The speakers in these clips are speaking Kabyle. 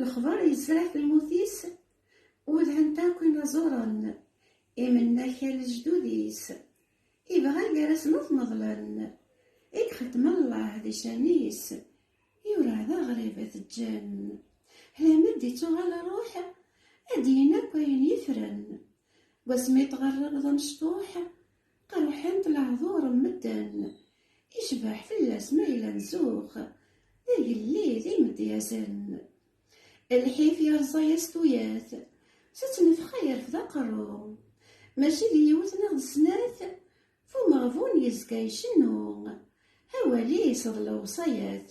Lexbar yesɛa tmut-is, udhent akk inaẓuren, imennak a lejdud-is, ibɣa gar-asen ad t-neḍlen, i ixeddem Allah di ccan-is, yura d aɣrib i t-ǧǧan. Hlama d-ittuɣal rruḥ, ad d-yin akk ayen yefren, deg wasmi tɣerrebeḍ amecṭuḥ, Qerḥent lehdur n medden, icbeḥ fell-as ma yella nzux, d agellid imedyazen. Lḥif yerẓa-yas tuyat, s ttnefxa yerfed aqerru. Mačči d yiwet neɣ d snat, f umeɣbun yezga icennu, awal-is d lewṣayat.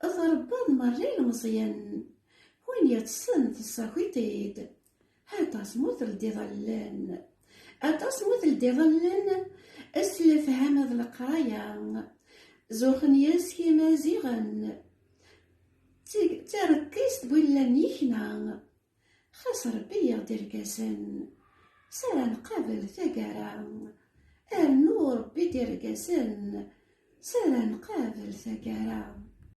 Tṛebbaḍ merra ilmeẓyen, win yeṭṭsen tessaki-t-id. Aṭas mu teldiḍ allen, aṭas mu teldiḍ allen, s lefham d leqraya, zuxen yes-k imaziɣen. D tarekkist bu llan yekna, Xas Ṛebbi yaɣ-d irgazen, s ara nqabel tagara. Rnu Ṛebbi-d irgazen, s ara nqabel tagara.